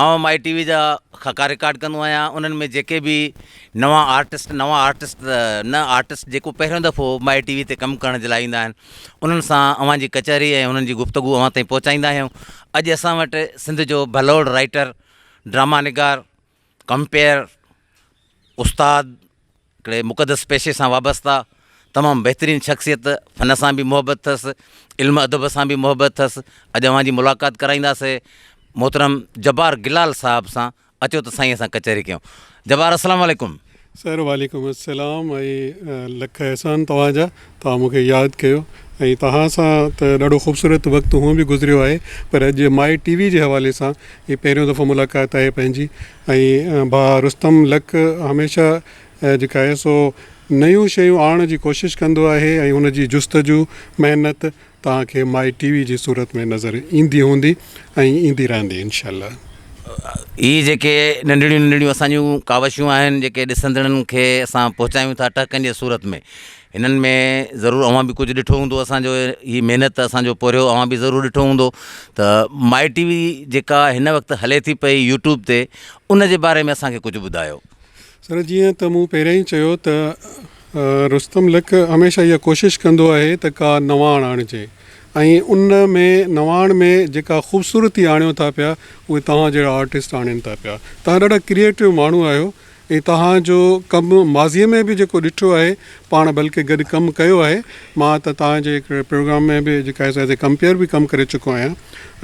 آئون my T V جا خاڪا رڪارڊ ڪندو آهيان انهن ۾ جيڪي به نوان آرٽسٽ نوان آرٽسٽ ته نه آرٽسٽ جيڪو پهريون دفعو مائي ٽي وي تي ڪم ڪرڻ جي لاء ايندا آهن انهن سان اوهان جي ڪچهري ۽ انهن جي گفتگو اوهان تائين پهچائيندا آهيون اڄ اسان وٽ سنڌ جو ڀلوڙ رائيٽر ڊراما نگار ڪمپيئر استاد هڪڙي مقدس پيشي سان وابسته، تمام بهترين شخصيت، فن سان به محبت اٿس، علم ادب سان به محبت اٿس، اڄ اوهان جي ملاقات ڪرائينداسي محترم جبار گلال صاحب سان، اچو ته سائينء سان ڪچهري ڪيون. جبار السلام عليڪم. سر وعليڪم السلام ۽ لک احسان توهان جا. توهان مون کي ياد ڪيو ۽ توهان سان ته ڏاڍو خوبصورت وقت هونء به گذريو آهي پر اڄ مائي ٽي وي جي حوالي سان هي پهريون دفعو ملاقات آهي پنهنجي ۽ ڀاء رستم لڪ هميشه جيڪا آهي سو نيون شيون آڻڻ جي ڪوشش ڪندو آهي ۽ ان جي جستجو محنت توهان کي مائي ٽي وي جي صورت ۾ نظر ايندي هوندي ۽ ايندي رهندي انشاء الله. هي جيڪي ننڍڙيون ننڍڙيون اسان جون ڪاوشون آهن جيڪي ڏسندڙن کي اسان پهچايون ٿا ٽهڪن جي صورت ۾ هنن ۾ ضرور اوهان به ڪجهه ڏٺو هوندو اسان جو هي محنت اسان جو پورهيو اوهان به ضرور ڏٺو هوندو ته مائي ٽي وي جيڪا هن وقت هلي ٿي پئي يوٽيوب تي ان جي باري ۾ اسان کي ڪجهه ٻڌايو. سر جيئن ته مون پهريان ئي چيو ته رستم لڪ هميشه اها ڪوشش ڪندو آهي ته ڪا نواڻ آڻجي ۽ ان ۾ نواڻ ۾ جيڪا خوبصورتي آڻيو ٿا پيا اهي توهان جهڙا آرٽسٽ آڻين ٿا پيا توهان ڏاڍا ڪريئيٽو ماڻهو آهيو ۽ توهان جو ڪم ماضي ۾ به جيڪو ڏٺو آهي پاڻ بلڪه گڏ ڪم ڪيو آهي مان ته توهان جي هڪڙي پروگرام ۾ به جيڪا ايز اي ڪمپيئر به ڪم ڪري چڪو آهيان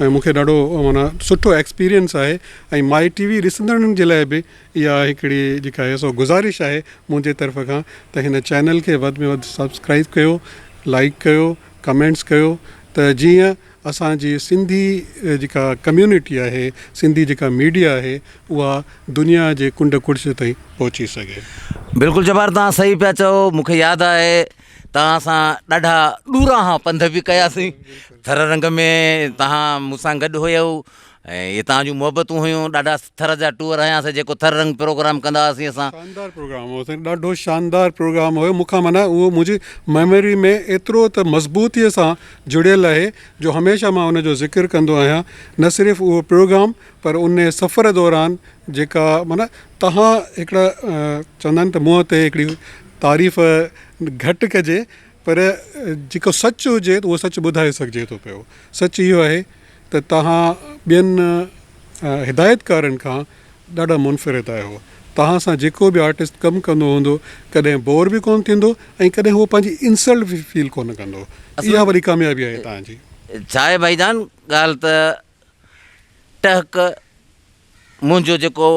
۽ مون کي ڏاڍو معنيٰ سٺو ايڪسپيريئنس آهي ۽ مائي ٽي وي ڏسندڙن جي لاء به اها هڪڙي جيڪا آهي سو گذارش آهي منهنجي طرف کان ته هن چينل کي وڌ ۾ وڌ سبسڪرائيب ڪيو لائيڪ ڪيو ڪمينٽس ڪيو ته جيئن اسان جي سنڌي جيڪا ڪميونٽي آهي سنڌي جيڪا ميڊيا آهي اها دنيا جي ڪنڊ ڪڙڇ تائين پهچي سگهي. بلڪل جبار توهان صحيح پيا چئو مون کي ياد آهي توهان سان ڏاڍا ڏورانهان پنڌ به ڪياسين ٿر رنگ ۾ توهان مون سان گڏ هيئو ۽ اتان جون محبتون هيون ڏاڍا ٿر جا ٽوئر هياسين جيڪو ٿر رنگ پروگرام ڪندا هئاسين اسان. شاندار پروگرام هو سائين ڏاڍو شاندار پروگرام هيو مون کان معنيٰ اهو منهنجي ميموري ۾ ايترو ته مضبوطي سان جڙيل آهي جو هميشه مان ان جو ذڪر ڪندو آهيان نه صرف اهو پروگرام پر ان سفر دوران جيڪا معنيٰ تهان هڪڙا چوندا آهن ته منهن تي هڪڙي تعريف گهٽ ڪجي پر جيڪو سچ هجي اهو سچ ٻڌائي سگهجي ٿو پيو سچ اهو آهي ته توهان ٻين هدايتڪارن کان ڏاڍا منفرد آهيو. توهان سان جيڪو به آرٽسٽ ڪم ڪندو هوندو ڪڏهن بور به ڪونه ٿيندو ۽ ڪڏهن هو پنهنجي انسلٽ به فيل ڪونه ڪندو. اها وڏي ڪاميابي آهي توهان جي. ڇا آهي ڀائي جان ڳالهه ته ٽهڪ منهنجو جيڪو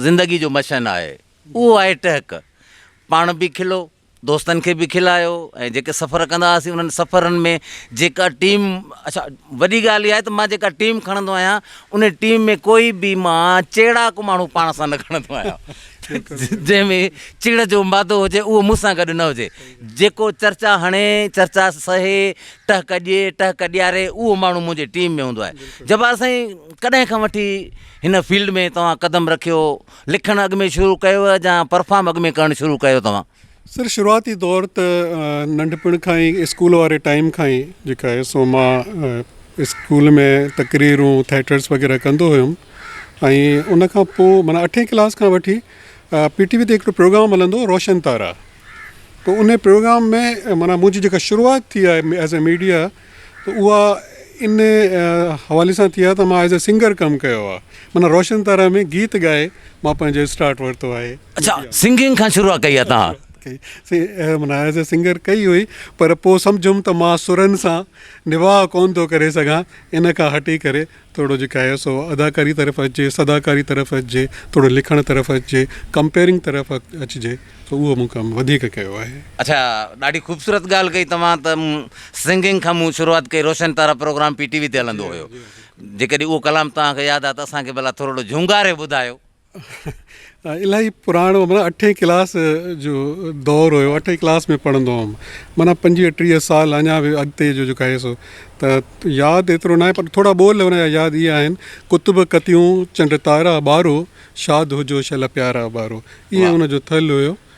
زندگي جو مشن آهي اهو آهي ٽهڪ پاڻ به کلو دوستن کي به کلايو ۽ جيڪي سفر ڪندا هئاسين انهن سفرن ۾ جيڪا ٽيم اڇا وڏي ڳالهه اها آهي ته مان جيڪا ٽيم کڻندو آهيان ان ٽيم ۾ ڪوئي به مان چيڙاڪ ماڻهو پاڻ سان نه کڻندو آهيان جنهن ۾ چڙ جو مادو هجي اهو مون سان گڏ نه هجي جيڪو چرچا هڻي چرچا سهي ٽهڪ ڏئي ٽهڪ ڏياري اهو ماڻهو منهنجي ٽيم ۾ هوندو آهي جبار سائين ڪڏهن کان وٺي هن فيلڊ ۾ توهان قدم رکيو لکڻ اڳ ۾ شروع ڪيو جا پرفام اڳ ۾ ڪرڻ شروع ڪيو توهان؟ سر شروعاتي دور ته ننڍپڻ کان ئي اسڪول واري ٽائيم کان ئي جيڪا آهي سو مان اسڪول ۾ تقريرون ٿيٽرس وغيره ڪندو هيم ۽ ان کان پوء معنيٰ اٺين ڪلاس کان وٺي پي ٽي وي تي هڪڙو پروگرام هلندو هو روشن تارا تو ان پروگرام ۾ معنيٰ منهنجي جيڪا شروعات ٿي آهي ايز اي ميڊيا ته اها ان حوالي سان ٿي آهي ته مان ايز اي سنگر ڪم ڪيو آهي معنيٰ روشن تارا ۾ گيت ڳائي مان پنهنجو اسٽارٽ ورتو آهي. اڇا سنگنگ کان شروعات ڪئي آهي توهان. معنيٰ ايز اي سنگر ڪئي هئي پر پوء سمجهيم ته مان سرن سان نباهه ڪونه ٿو ڪري سگهان ان کان هٽي ڪري ٿورو جيڪا آهي سو اداڪاري طرف اچجي، صداڪاري طرف اچجي، ٿورو لکڻ طرف اچجي، ڪمپيئرنگ طرف اچجي سو اهو مون ڪم وڌيڪ ڪيو آهي. اڇا ڏاڍي خوبصورت ڳالهه ڪئي توهان ته سنگنگ کان مون شروعات ڪئي Roshan Tara program P T V تي هلندو هيو جيڪڏهن اهو ڪلام توهان کي ياد آهي ته اسان کي ڀلا ٿورڙو جهونگاري ٻڌايو. الاهي پراڻو معنيٰ اٺين ڪلاس جو دور هيو اٺين ڪلاس ۾ پڙهندو هوم معنيٰ پنجويهه ٽيهه سال اڃا به اڳتي جو جيڪو آهي سو ته ياد ايترو ناهي پر ٿورا ٻول ان جا ياد اهي آهن ڪتب ڪتيون چنڊ تارا ٻارو شاد هجو شل پيارا ٻارو اهي ان جو ٿل هيو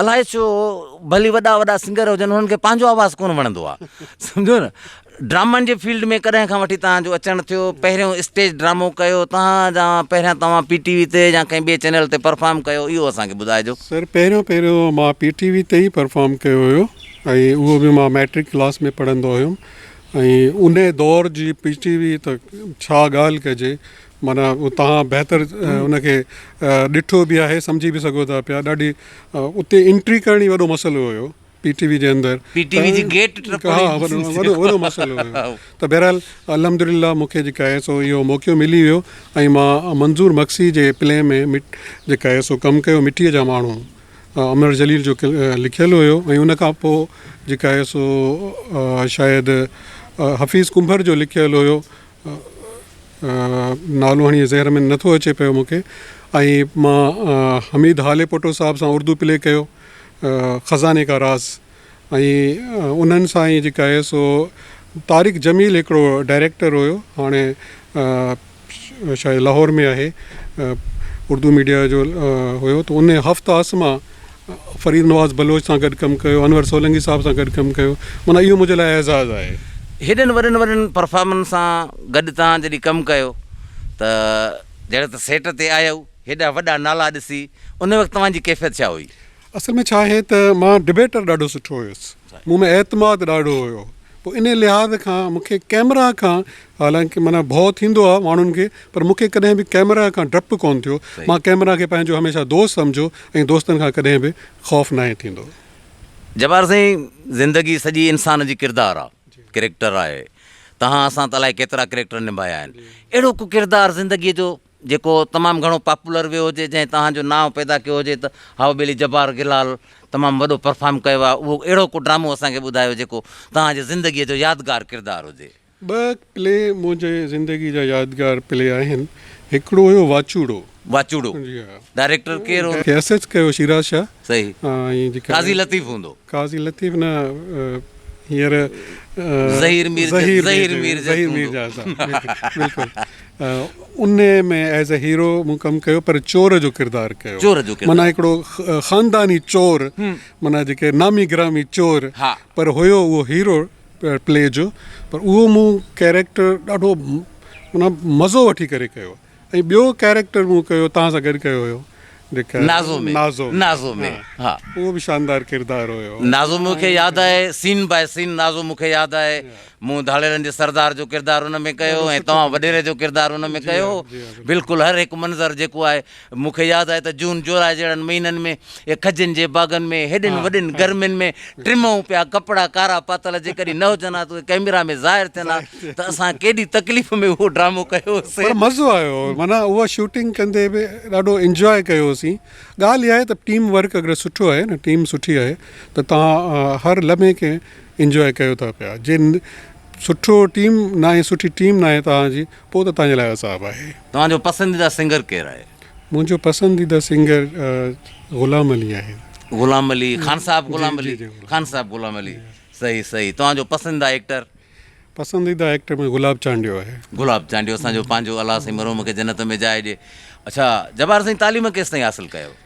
الائي ڇو ڀلي وڏا وڏا سنگر هجن انهن کي پنهنجو آواز ڪونه وڻندو آ سمجهو نه ڊرامن جي فيلڊ ۾ ڪڏهن کان وٺي توهان جو اچڻ ٿيو پهريون اسٽيج ڊرامو ڪيو توهان جا پهريان توهان پي ٽي وي تي يا ڪنهن ٻي چينل تي پرفارم ڪيو اهو اسان کي ٻڌائجو سر پهريون پهريون مان پي ٽي وي تي ئي پرفارم ڪيو هيو ۽ اهو به مان ميٽرڪ ڪلاس ۾ پڙهندو هيم ۽ ان دور جي پي ٽي وي ته ڇا ڳالهه ڪجي معنيٰ توهان بهتر ان کي ڏٺو به آهي سمجهي به سگهو ٿا پيا ڏاڍي اتي انٽري ڪرڻ ئي وڏو مسئلو هيو پي ٽي وي جي اندر پي ٽي وي جي گيٽ ٽپڻ وڏو وڏو مسئلو هيو ته بهرحال الحمد لله مون کي جيڪا آهي سو اهو موقعو ملي ويو ۽ مان منظور مگسي جي پلي ۾ جيڪا آهي سو ڪم ڪيو مٽيء جا ماڻهو امر جليل جو لکيل هيو ۽ ان کان پوء جيڪا آهي سو شايد حفيظ ڪنڀر جو لکيل هيو نالو هاڻي ذهن ۾ نٿو اچي پيو مونکي ۽ مان حميد هاليپوٽو صاحب سان اردو پلي ڪيو خزاني ڪا راز ۽ انهن سان ئي جيڪا آهي سو طارق جميل هڪڙو ڊائريڪٽر هيو هاڻي شايد لاهور ۾ آهي اردو ميڊيا جو هيو ته ان هفته اسما فريد نواز بلوچ سان گڏ ڪم ڪيو، انور سولنگي صاحب سان گڏ ڪم ڪيو، معنيٰ اهو منهنجي لاء اعزاز آهي. هيڏن وڏن وڏن پرفارمرن سان گڏ توهان جڏهن ڪم ڪيو ته جڏهن ته سيٽ تي آيو هيڏا وڏا نالا ڏسي ان وقت توهان جي ڪيفيت ڇا هئي؟ اصل ۾ ڇا آهي ته مان ڊبيٽر ڏاڍو سٺو هيس، مون ۾ اعتماد ڏاڍو هيو، پوء انهي لحاظ کان مون کي ڪيمرا کان حالانڪه معنيٰ ڀؤ ٿيندو آهي ماڻهن کي پر مون کي ڪڏهن به ڪئميرا کان ڊپ ڪونه ٿيو. مان ڪئميرا کي پنهنجو هميشه دوست سمجهيو ۽ دوستن کان ڪڏهن به خوف ناهي ٿيندو. جبار سائين زندگي سڄي انسان جي ڪردار آ ڪريڪٽر آهي تهان اسان ته الائي ڪيترا ڪريڪٽر نڀايا آهن اهڙو ڪو ڪردار زندگي جو جيڪو تمام گهڻو پاپولر ويو هجي جنهن تهان جو نانء پيدا ڪيو هجي ته هائو ٻيلي جبار گلال تمام وڏو پرفارم ڪيو آهي اهو اهڙو ڪو ڊرامو اسان کي ٻڌايو جيڪو تهان جي زندگي جو يادگار ڪردار هجي. ٻه پلي منهنجي زندگي جا يادگار پلي آهن هڪڙو هيو واچوڙو. واچوڙو ڊائريڪٽر ڪير هوندو؟ S H Q Shiraz Shah. صحيح قاضي لطيف هوندو. قاضي لطيف نه هينئر ظهير مير ظهير مير ظهير مير جا صاحب بلڪل ان ۾ ايز اي هيرو مون ڪم ڪيو پر چور جو ڪردار ڪيو چور جو ڪردار معنيٰ هڪڙو خانداني چور معنيٰ جيڪي نامي گرامي چور پر هيو اهو هيرو پلي جو پر اهو مون ڪيريڪٽر ڏاڍو معنيٰ مزو وٺي ڪري ڪيو ۽ ٻيو ڪيريڪٽر مون ڪيو تهان سان گڏ ڪيو هيو جيڪا نازو ۾ نازو نازو ۾ ها ها اهو به شاندار ڪردار هيو نازو مون کي ۽ ياد آهي سين باء سين نازو مون کي ياد آهي مون ڌاڙيلن جي سردار جو ڪردار ان ۾ ڪيو ڏاڍو ۽ سٺو توهان ڪردار وڏيري جو ڪردار ان ۾ جي ڪيو ها هو جي ها بلڪل بلڪل هر هڪ منظر جيڪو آهي مون کي ياد آهي ته جون جولاء جهڙن مهينن ۾ کجين جي باغن ۾ هيڏين وڏين گرمين ۾ ٽمئون پيا ڪپڙا ڪارا پاتل جيڪڏهن نه هجن ها ته اهي ڪئميرا ۾ ظاهر ٿين ها ته اسان ڪيڏي تڪليف ۾ اهو ڊرامو ڪيو هوسين. پر مزو آيو هو معنيٰ اها شوٽنگ ڪندي به ڏاڍو انجواء ڪيو هوسين ڳالهه اها آهي ته ٽيم ورڪ اگر سٺو آهي نه ٽيم سٺي آهي ته توهان هر لمحي کي انجواء ڪيو ٿا پيا جي سٺو ٽيم ناهي سٺي ٽيم ناهي توهان جي پوء ته توهان جي لاء عذاب آهي. توهان جو پسنديده سنگر ڪير آهي؟ منهنجو پسنديده سنگر غلام علي آهي. غلام علي خان صاحب غلام علي خان صاحب غلام علي صحيح صحيح توهان جو پسنديده ايڪٽر؟ پسنديده ايڪٽر منهنجو گلاب چانڊيو آهي. گلاب چانڊيو اسان جو پنهنجو الله سائين مرحوم کي جنت ۾ جاء ڏي اڇا جبار سائين تعليم ڪيستائين حاصل ڪيو؟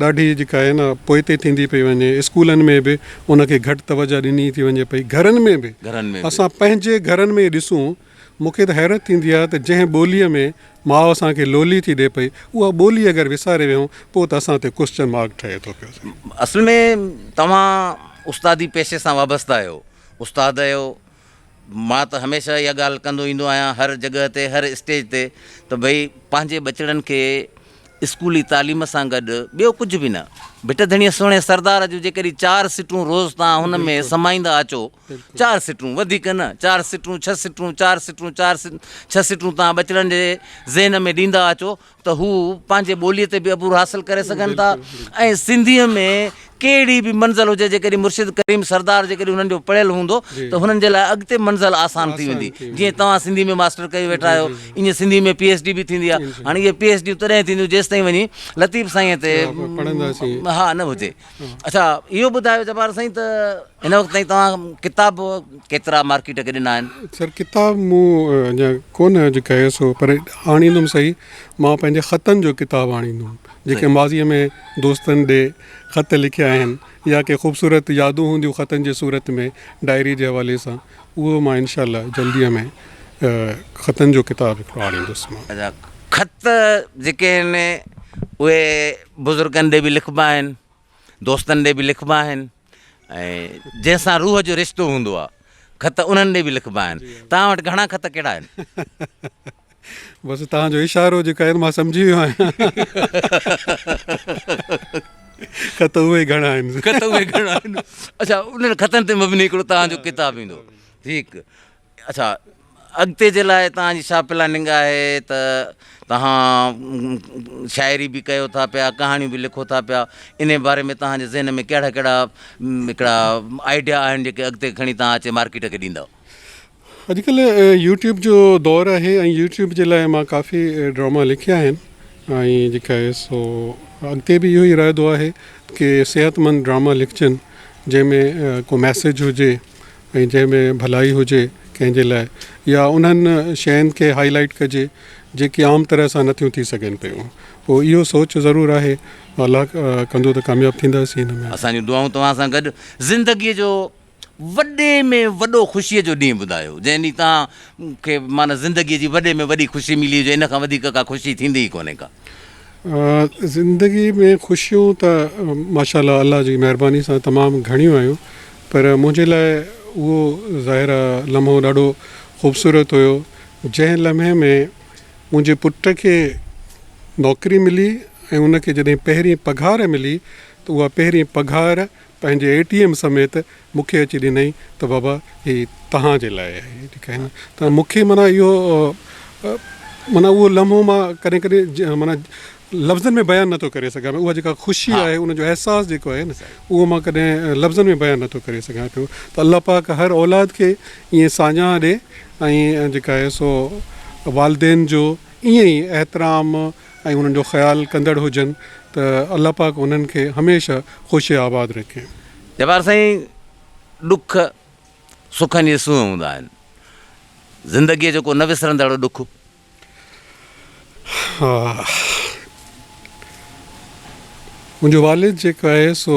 ڏاڍي جيڪا آهي نه پوئتي ٿيندي پئي وڃي اسڪولن ۾ به ان کي گهٽ توجه ڏني ٿي وڃي پئي گهرن ۾ به اسان پنهنجي گهرن ۾ ڏسون مون کي ته حيرت ٿيندي آهي ته جنهن ٻولي ۾ ماء اسان کي لولي ٿي ڏي پئي اها ٻولي اگر وساري ويهون پوء ته اسان تي ڪوسچن مارڪ ٺهي ٿو پيو سائين. اصل ۾ توهان استادي پيشي سان وابسته آهيو استاد آهيو مان ته هميشه اها ڳالهه ڪندو ايندو آهيان هر جڳهه تي هر اسٽيج تي ته ڀئي پنهنجي ٻچڙن کي اسڪولي تعليم سان گڏ ٻيو ڪجهه به نه ڀٽ ڌڻيء سهڻي سردار جون جيڪڏهن چار سٽون روز تان هن ۾ سمائيندا اچو چار سٽون وڌيڪ نه چار سٽون ڇهه سٽون چار سٽون چار ڇهه سٽون تان ٻچڙن جي ذهن ۾ ڏيندا اچو ته هو پنهنجي ٻوليء تي به عبور حاصل ڪري سگهن ٿا ۽ سنڌيء ۾ ڪهڙي به منزل هجي جيڪڏهن مرشد ڪريم سردار جيڪڏهن انهن جو پڙهيل هوندو ته هنن جي لاء اڳتي منزل آسان ٿي ويندي جيئن توهان سنڌي ۾ ماسٽر ڪيو ويٺا آهيو ايئن سنڌي ۾ پي ايڇ ڊي به ٿيندي ها هاڻي اهي پي ايڇ ڊيون تڏهن ٿينديون جيستائين وڃي لطيف سائينء تي ها نه هجي. اڇا اهو ٻڌايو جبار سائين ته هن وقت تائين توهان ڪتاب ڪيترا مارڪيٽ کي ڏنا آهن؟ سر ڪتاب مون اڃا ڪونه اڄ ڪيس هو پر آڻيندم صحيح مان پنهنجي خطن جو ڪتاب آڻيندم جيڪي ماضي ۾ دوستن ڏي خط لکيا آهن يا ڪي خوبصورت يادون هونديون خطن جي صورت ۾ ڊائري جي حوالي سان اهو مان انشاء الله جلديء ۾ خطن جو ڪتاب هڪڙو آڻيندس مان. اچا خط جيڪي آهن اهي بزرگن ڏي به لکبا آهن دوستن ڏي به لکبا آهن ۽ جنهن سان روح جو رشتو هوندو آهي خط انهن ڏي به لکبا آهن توهان وٽ گهڻا خط ڪهڙا آهن. بس توهان جو اشارو جيڪو آهي مان سمجهي ويو آهيان خط اهي گهڻا آهن خط اهي گهڻا آهن اڇا انهن خطن تي مبني هڪڙو توهان جو ڪتاب ايندو ٺيڪ. اڇا اڳتي جي لاء توهان جي ڇا پلاننگ آهي ته توهان شاعري به ڪيو ٿا پيا ڪهاڻيون به لکو ٿا پيا ان باري ۾ توهان جي ذهن ۾ ڪهڙا ڪهڙا هڪڙا آئيڊيا آهن جيڪي اڳتي کڻي توهان اچي مارڪيٽ کي ڏيندؤ. اڄڪلهه يوٽيوب جو دور آهي ۽ يوٽيوب جي لاء مان ڪافي ڊراما لکيا آهن ۽ جيڪا آهي سو اڳتي به اهو ئي ارادو آهي ڪي صحت مند ڊراما لکجن جنهن ۾ ڪو ميسيج هجي ۽ جنهن ۾ ڀلائي هجي ڪنهن جي لاء يا انهن شين کي هائي لائيٽ ڪجي جيڪي عام طرح سان نه ٿيون ٿي سگهن پيون پوء اهو سوچ ضرور آهي الله ڪندو ته ڪامياب ٿينداسين ان ۾. اسان جون دعائون توهان سان گڏ. زندگيء جو وڏي ۾ وڏو خوشيء جو ڏينهن ٻڌايو، جنهن ڏينهن توهان کي معنيٰ زندگيء جي وڏي ۾ وڏي خوشي ملي هجي، ان کان وڌيڪ ڪا خوشي ٿيندي ئي ڪونهي ڪا. زندگي ۾ خوشيون ته ماشاء الله الله جي مهرباني سان تمام گهڻيون آيون پر منهنجي لاء اهو ظاهرا لمحو ڏاڍو خوبصورت هيو جنهن لمحي ۾ منهنجي پٽ کي نوڪري ملي ۽ ان کي جڏهن پهرين پگهار ملي ته اها پهرين پگهار پنهنجي اي ٽي ايم سميت مون کي اچي ڏنائين ته بابا هي توهان جي لاء آهي ٺيڪ آهي نه ته مون کي معنيٰ اهو معنيٰ اهو لمحو مان ڪڏهن ڪڏهن معنيٰ لفظن ۾ بيان نٿو ڪري سگهان پيو اها جيڪا خوشي آهي ان جو احساس جيڪو آهي نه اهو مان ڪڏهن لفظن ۾ بيان نٿو ڪري سگهان پيو ته الله پاڪ هر اولاد کي ائين ساڃاهه ڏي ۽ جيڪا آهي سو والدين جو ائين ئي احترام ۽ انهن جو خيال ڪندڙ هجن ته الله پاڪ انهن کي هميشه خوش آباد رکي. جبار سائين ڏک سکن جي سونهن هوندا آهن زندگي جو ڪو نه وسرندڙ ڏک. ها منهنجو والد جيڪو آهي سو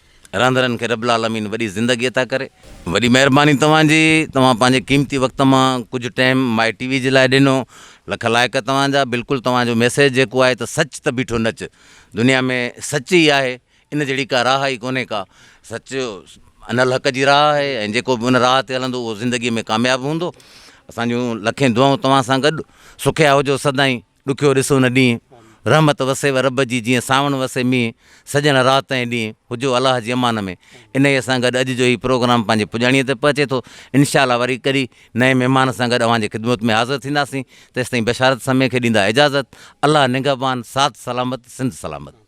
رهندڙن کي رب العالمين وڏي زندگي عطا ڪري. وڏي مهرباني توهان جي توهان پنهنجي قيمتي وقت مان ڪجهه ٽيم مائي ٽي وي جي لاء ڏنو لک لائق توهان جا بلڪل توهان جو ميسيج جيڪو آهي ته سچ ته بيٺو نچ دنيا ۾ سچ ئي آهي ان جهڙي ڪا راهه ئي ڪونهي ڪا سچ ان الحق جي راهه آهي ۽ جيڪو به ان راهه تي هلندو اهو زندگي ۾ ڪامياب هوندو اسان جون لکين دعائون توهان سان گڏ سکيا هجو سدائين. ڏکيو ڏس ان ڏينهن، رحمت وسيو رب جي جيئن سانوڻ وسي مينهن، سڄڻ رات ۽ ڏينهن، هجو الله جي امان ۾، انهيء سان گڏ اڄ جو هي پروگرام پنهنجي پڄاڻيء تي پهچي ٿو، انشاء الله وري ڪڏهن نئين مهمان سان گڏ اوهان جي خدمت ۾ حاضر ٿينداسين، تيستائين بشارت سمي کي ڏيندا اجازت، الله نگهبان، ساٿ سلامت، سنڌ سلامت.